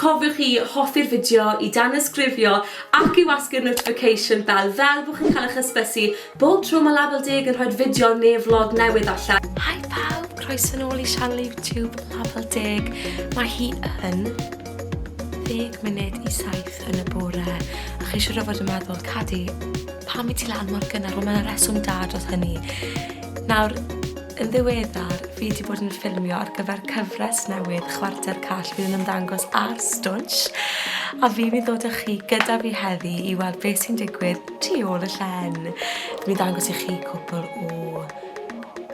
Cofiwch i hoffi'r fideo, i danysgrifio ac i wasgu'r notification bell fel bo' chi'n cael eich hysbysu bob tro mae Label Deg yn rhoi'r fideo neu vlog newydd allan. Hi pawb, croeso nôl i sianel YouTube Label Deg. Mae hi yn ddeg munud i saith yn y bore a chi siŵr o fod yn meddwl, Cadi, pam i ti lan mor gynnar? Wel mae 'na reswm da dros hynny. Nawr, Yn ddiweddar, fi 'di bod yn ffilmio ar gyfer cyfres newydd Chwarter Call fydd yn ymddangos ar Stwnsh, a fi'n mynd i ddod â chi gyda fi heddi i weld beth sy'n digwydd tu ôl y llen. Fi'n ddangos i chi cwpl o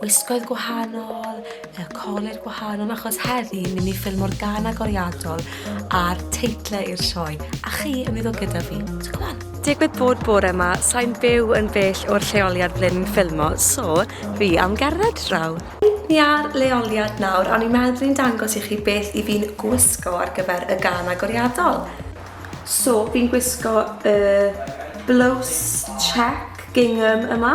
wisgoedd gwahanol, y colur gwahanol, achos heddi ni'n mynd i ffilmo'r gan agoriadol a'r teitlau i'r sioe, a chi yn mynd i ddod gyda fi. So come on! Digwydd bod bore 'ma sai'n byw yn bell o'r lleoliad ble ni'n ffilmo, so fi am gerdded draw. Reit, ni ar leoliad nawr, a o'n i'n meddwl bod i'n dangos i chi beth i fi'n gwisgo ar gyfer y gan agoriadol. So, fi'n gwisgo y blouse check gingham yma.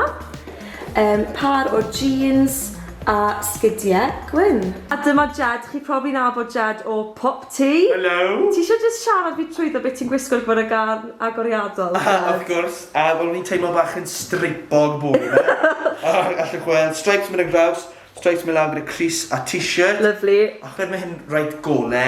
Yym, pâr o jîns a sgidie gwyn. A dyma Jed, chi profi nabod Jed o Pop Tee. Helo! Ti isio jyst siarad fi trwyddo be ti'n gwisgo ar gyfer y gân agoriadol? Aha, wrth gwrs, a fel o'n i'n teimlo bach yn streipog bore 'ma. Allwch chi weld streips myn' ar draws, streips myn' lawr gyda crys a t-shirt. Lyfli. Achos ma' hyn reit gole,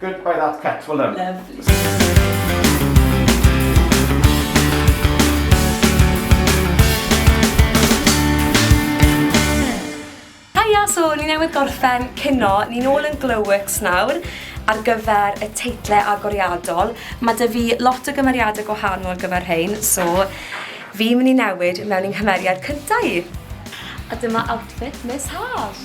Good by that cat, well done. Haia, so ni newydd gorffen cino, ni'n ôl yn Glowworks nawr ar gyfer y teitle agoriadol. Mae dy fi lot o gymeriadau gwahanol gyfer hyn, so fi'n mynd i newid mewn i'n nghymeriad cyntaf i. A dyma outfit Miss Haf.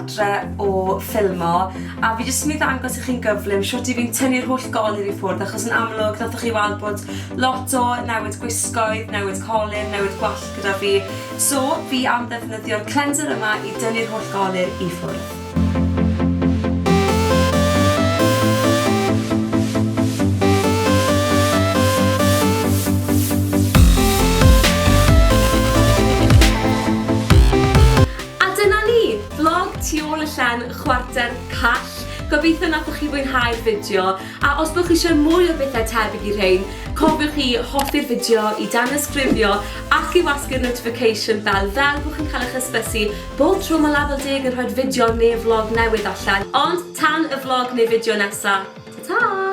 adre o ffilmo a fi jyst yn mynd ddangos i chi'n gyflym siwt i fi'n tynnu'r holl golir i ffwrdd achos yn amlwg nathoch chi weld bod lot o newid gwisgoedd, newid colin, newid gwallt gyda fi so fi am ddefnyddio'r cleanser yma i dynnu'r holl golir i ffwrdd. A dyna ni! Vlog tu ôl y llen chwarter call. Gobeithio nathoch chi fwynhau'r fideo, a os bo chi isio mwy o bethau tebyg i rhein, cofiwch i hoffi'r fideo, i danysgrifio ac i wasgu'r notification bell fel bo chi'n cael eich hysbysu Bob tro mae Lafel Deg yn rhoi'r fideo neu flog newydd allan. Ond tan y flog neu fideo nesa, ta ta!